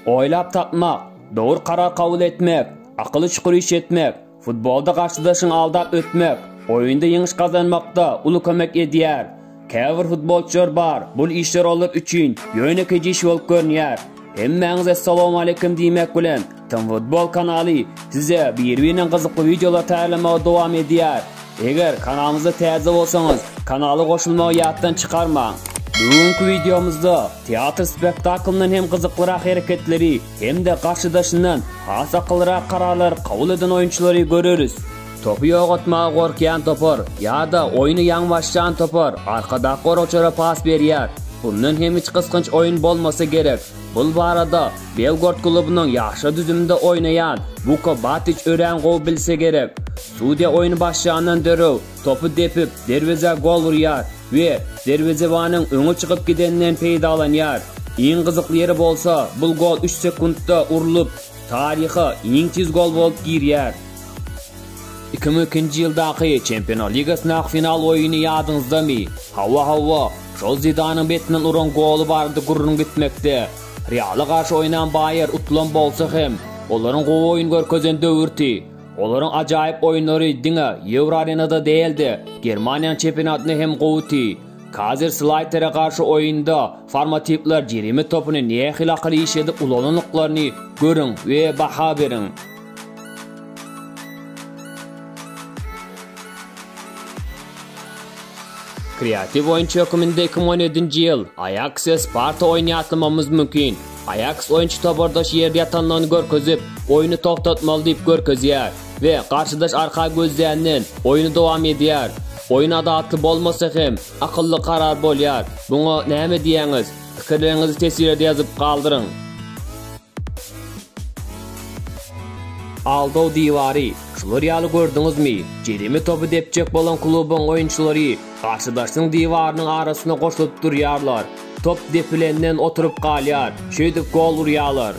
Oýlap tapmak, dogry karar kabul etmek, akyly çukur iş etmek, futbolda garşydaşyňy aldap ötmek, oýunda ýeňiş gazanmakda uly kömek edýär. Käbir futbolçylar bar, bul işler olar üçin ýönekeý iş bolup görünýär. Hemmäňize salowmaleýkim diýmek bilen, Tom Futbol kanaly size bir-birine gyzykly wideolar taýýarlamagy dowam edýär. Eger kanalymyza täze bolsaňyz, kanala goşulmagy ýatdan çykarmaň. Bu günki wideomyzda teatr spektaklyndan hem gyzyklyrak hereketleri hem-de garşydaşyndan has akyllyrak kararlary kabul eden oýunçylary göreris. Topy ýogatmaga gorkýan topar ýa-da oýny ýaňy başlan topar arkadak goragçylara pas berýär. Bundan hem hiç gysgynç oýun bolmasa gerek. Bul barada Belgorod klubynyň ýaşlar düzüminde oýnaýan Wuko Batiç örän gowy bilse gerek. Sudiýa oýny başlandan dörew topy depip, derwezä gol urýar we derwezebanyň öňe çykyp gideninden peýdalanýar. Iň gyzykly ýeri bolsa bul gol üç sekuntda urlup, taryha iň tiz gol bolup girýär. Iki müň ikinji ýyldaky Çempionlar ligasyndaky final oýny ýadyňyzdamy? Hawa, hawa. Şol Zidanyň betinden uran goly barada gürrüň gitmekde, Reala garşy oýnan Baýer utulan bolsa hem, olaryň gowy oýun görkezen döwürti, olaryň ajaýyp oýunlary diňe Ýewroarenada däl-de, Germaniýanyň çempionatynda hem gowudy. Kazerslaýtere garşy oýunda Formatiwler jerime topuny nähili akyl iş edip ulanandyklaryny görüň we baha beriň. Kreatiw oýunçy hökmünde 2017-nji ýyl Aýaks we Sparta oýny ýatlamamyz mümkin. Aýaks oýunçy topardaş ýerde ýatanlygyny görkezip, oýny togtatmaly diýip görkezýär we garşydaş arka gözleýänden oýny dowam edýär. Oýun adalatly bolmasa hem, akylly karar bolýar. Buňa näme diýýäňiz? Pikirleriňizi teswirede ýazyp galdyryň. Aldaw diwary, şular ýaly gördüňizmi? Jerime topy depjek bolan klubuň oýunçylary garşydaşyň diwarynyň arasyna goşulyp durýarlar. Top depilenden oturyp galýar, şeýdip gol urýarlar.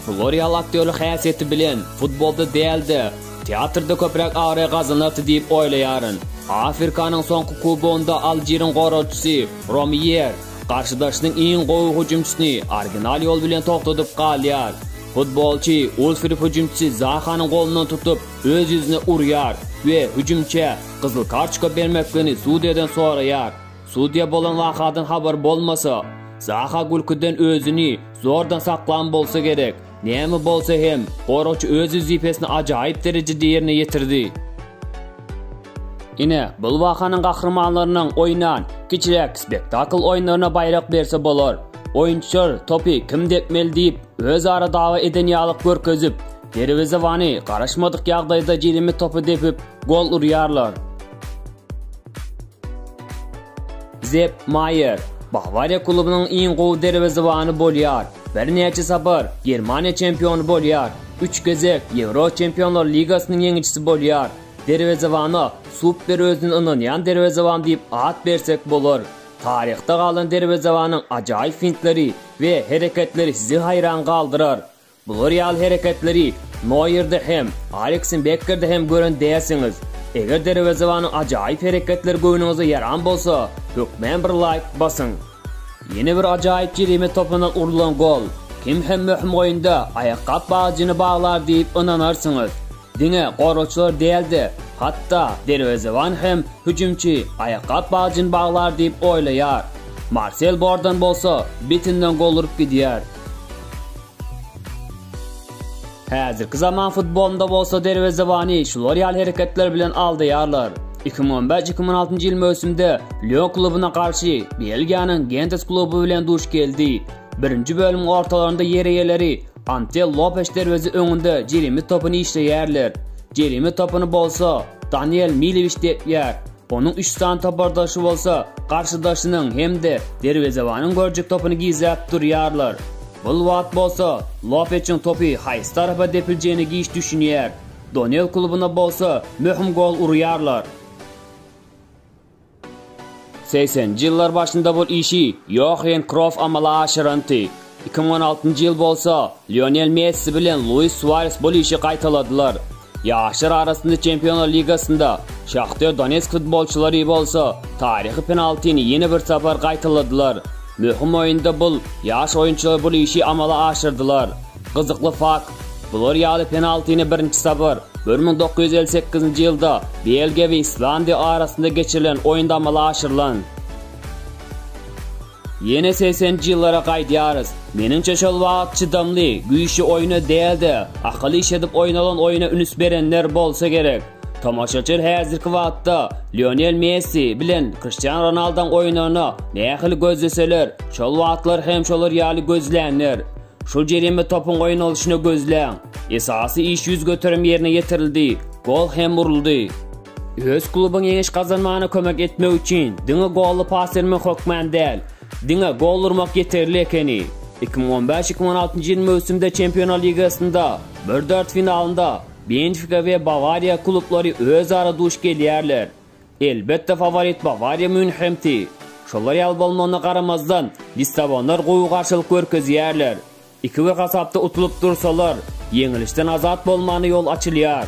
Florial aktýorlyk häsiýeti bilen futbolda däl-de, teatrda köpräk abraý gazanardy diýip oýlaýaryn. Afrikanyň soňky kubogynda Aljiriň goragçysy Romýer, Garşydaşynyň iň gowy hüjümçisini original ýol bilen togtadyp galýar. Futbolçy ol sürüp hüjümçisi Zahanyň golundan tutup, öz ýüzüne urýar we hüjümçä gyzyl kartoçka bermekligini sudýadan soraýar. Sudýa bolan wakadan habar bolmasa, Zaha gülküden özüni zordan saklan bolsa gerek. Näme bolsa hem, goragçy öz wezipesini ajaýyp derejede ýerine ýetirdi. Ine, bul wakanyň gahrymanlarynyň oýnan kiçiräk spektakl oýunlaryna baýrak berse bolar. Oýunçylar topy kim depmeli diýip, özara dawa eden ýaly görkezip, derwezebany garaşmadyk ýagdaýda jilimi topa depip, gol urýarlar. Sepp Maýer, Bawariýa klubunyň iň gowy derwezebany bolýar, birnäçe sapar Germaniýa çempiony bolýar, üç gezek Ýewro Çempionlar ligasynyň ýeňijisi bolýar. Derwezebana super özüne ynanýan derwezeban diýip at bersek bolar. Taryhda galan derwezebanyň ajaýyp fintleri we hereketleri sizi haýran galdyrar. Bular ýaly hereketleri Noýerde hem, Aleksiň Bekkerde hem gören dälsiňiz. Eger derwezebanyň ajaýyp hereketleri göwnüňize ýaran bolsa, hökmän bir laýk basyň. Ýene bir ajaýyp jerime topundan urlan gol. Kim hem möhüm oýunda aýakgap bagjyny baglar diýip ynanarsyňyz. Diňe goragçylar däl-de, hatda derwezeban hem hüjümçi aýakgap bajyny baglar diýip oýlaýar. Marsel bordan bolsa bitinden gol urup gidýär. Häzirki zaman futbolynda bolsa derwezebany şular ýaly hereketler bilen aldaýarlar. Iki müň on bäş-iki müň on altynjy ýyl möwsümde Lýon klubyna garşy Belgiýanyň Gentes kluby bilen duş geldi. Birinji bölümiň ortalarynda ýer eýeleri Antel Lopes derweze öňünde jerime topyny işleýärler. Jerime topyny bolsa Daniel Milewiç depýär. Onuň üç sany topardaşy bolsa garşydaşynyň hem-de derwezebanyň görjek topyny gizläp durýarlar. Bul wagt bolsa Lopeçiň topy haýsy tarapa depiljegine giç düşünýär. Donel klubuna bolsa möhüm gol urýarlar. Segseninji ýyllar başynda bul işi Ýohen Krof amala aşyranty. Iki müň on altynjy ýyl bolsa Lionel Messi bilen Luis Suares bul işi gaýtaladylar. Ýaşlar arasynda Çempionlar ligasynda Şahter Donetsk futbolçylary bolsa taryhy penaltini ýene bir sapar gaýtaladylar. Möhüm oýunda bul ýaş oýunçylar bul işi amala aşyrdylar. Gyzykly fakt, Bular ýaly penaltini birinji sapar bir müň dokuz ýüz elli sekizinji ýylda Belgiýa we Islandiýa arasynda geçirilen oýunda amala aşyrylan. Ýene segseninji ýyllara gaýdýarys. Meniňçe şol wagt çydamly, güýçli oýna däl-de, akyl işledip oýnalan oýna ünüs berenler bolsa gerek. Tomaşaçyl häzirki wagtda Lionel Messi bilen Kriştian Ronaldaň oýnagyna nähili gözleseler, şol wagtlar hem şolar ýaly gözlänler. Şul jerime topuň goýnalyşyny gözläň. Esasy iş ýüz göterim ýerine ýetirildi, gol hem uruldy. Öz klubyň ýeňiş gazanmagyna kömek etmek üçin diňe golly pas bermek hökman däl, diňe gol urmak ýeterli ekeni. Iki müň on bäş-iki müň on altynjy ýyl möwsümde Çempionlar ligasynda bir dart finalynda Benfika we Bawariýa klublary özara duş gelýärler. Elbetde faworit Bawariýa Mýunhemdi. Şolar ýaly bolmagyna garamazdan, lissabonlar gowy garşylyk görkezýärler. Iki bir hasapda utulyp dursalar, ýeňilişden azat bolmagyna ýol açylýar.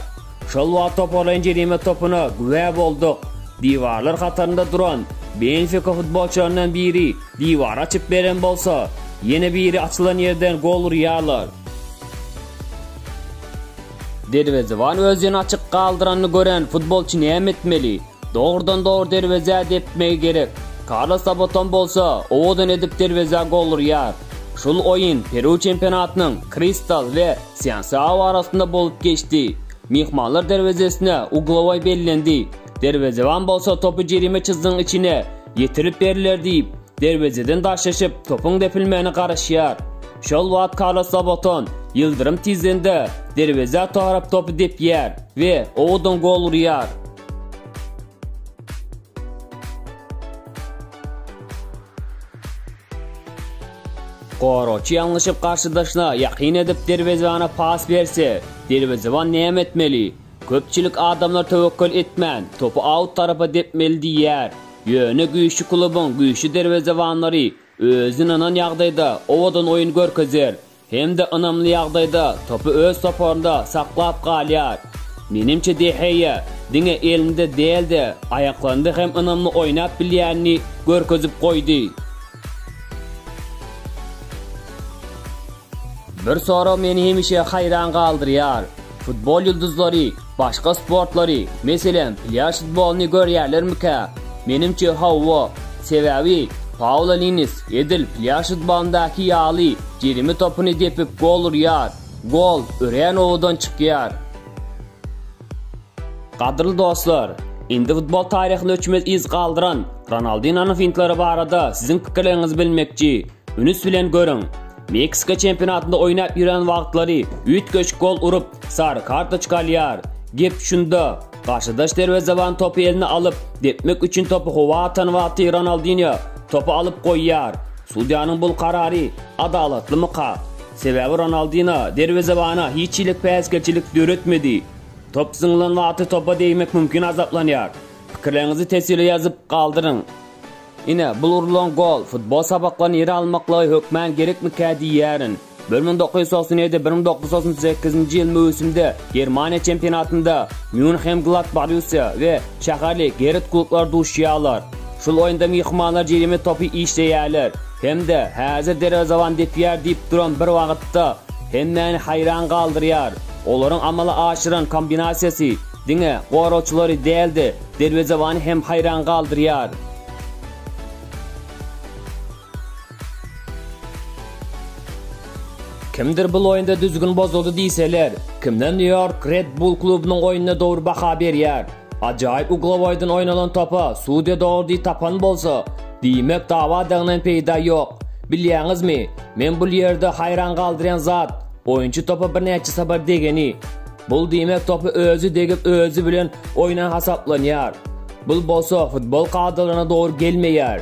Şol wagt toparlaýyn jerime topuna güwä bolduk. Diwarlar hatarynda duran Benfika futbolçylaryndan biri diwary açyp beren bolsa, ýene biri açylan ýerden gol urýarlar. Derwezeban özüni açyk galdyranyny gören futbolçy näme etmeli? Dogrudan-dogry derwezä depmegi gerek. Karlos Saboton bolsa, owadan edip derwezä gol urýar. Şul oýun Peru çempionatynyň Kristal we Sýansaao arasynda bolup geçdi. Myhmanlar derwezesine uglowoý bellendi. Derwezeban bolsa topy jerime çyzdygyň içine ýetirip berler diýip, Derwezeden daş eşip, topuň depilmegine garaşýar. Şol wagt Karlos Zaboton, ýyldyrym tizliginde, derwezä tarap topy depýär we owadan gol urýar. Goragçy ýalňyşyp garşydaşyna ýakyn edip derwezebana pas berse, derwezeban näme etmeli? Köpçülik adamlar töwekgel etmän, topy aut tarapa depmeli diýýär. Ýöne güýçli klubuň güýçli derwezebanlary özi ynanan ýagdaýda owadan oýun görkezýär hem-de ynamly ýagdaýda topy öz toparynda saklap galýar. Menimçe De Heýa diňe elinde däl-de, aýaklarynda hem ynamly oýnap bilýänini görkezip goýdy. Bir sorag meni hemişe haýran galdyrýar. Futbol ýyldyzlary başga sportlary, meselem, plýaž futbolyny görýärlermikä? Menimçe hawa. Sebäbi Paula Linnis edil plýaž futbolyndaky ýaly jerime topyny depip gol urýar. Gol örän owadan çykýar. Gadyrly dostlar, indi futbol taryhynda öçmez yz galdyran Ronaldinonyň fintleri barada siziň pikirleriňizi bilmekçi. Ünüs bilen görüň. Meksika çempionatynda oýnap ýören wagtlary üýtgeşik gol urup, sary kartoçka alýar. Gep şunda, garşydaş derwezeban topy eline alyp, depmek üçin topy howa atan wagty Ronaldinýo topy alyp goýýar. Sudýanyň bul karary adalatlymyka? Sebäbi Ronaldinho derwezebana hiç hili päsgelçilik döretmedi. Top zyňylan wagty topa degmek mümkin azaplanýar. Pikirleriňizi teswire ýazyp galdyryň. Ine, bul urlan gol, futbol sapaklaryny ýere almaklygy hökmän gerekmikä diýýärin. Bir müň dokuz ýüz togsan ýedi, bir müň dokuz ýüz togsan sekizinji ýyl möwsümde Germaniýa çempionatynda Mýunhen-Gladbarussiýa we şäherli Geret klublar duşýarlar. Şol oýunda myhmanlar jerime topy işleýärler. Hem-de häzir derwezaban depýär diýip duran bir wagtda hemmäni haýran galdyrýar. Olaryň amala aşyran kombinasiýasy diňe goragçylary däl-de, derwezebany hem haýran galdyrýar. Kimdir bul oýunda düzgün bozuldy diýseler, kimden Nýu-Ýork Red Bull klubunyň oýnuna dogry baha berýär. Ajaýyp uglowoýdan oýnalan topa sudýa dogry diý tapan bolsa, diýmek dawadagyňdan peýda ýok. Bilýäňizmi, men bul ýerde haýran galdyrýan zat, oýunçy topa birnäçe sapar degeni. Bul diýmek topy özi degip özi bilen oýnan hasaplanýar. Bul bolsa futbol kadalaryna dogry gelmeýär.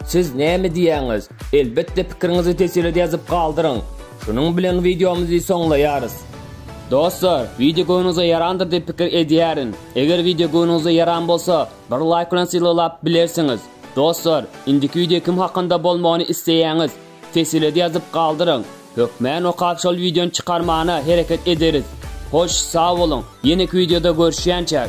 Siz näme diýýäňiz? Elbetde pikiriňizi teswirede ýazyp galdyryň. Şunuň bilen wideomyzy soňlaýarys. Dostlar, wideo göwnüňize ýarandyr diýip pikir edýärin. Eger wideo göwnüňize ýaran bolsa, bir laýk bilen sylaglap bilersiňiz. Dostlar, indiki wideo kim hakynda bolmagyny isleýäňiz? Tesilede ýazyp galdyryň. Hökmän okap şol wideony çykarmana hereket ederis. Hoş, sag boluň, ýeneki wideoda görüşýänçäk!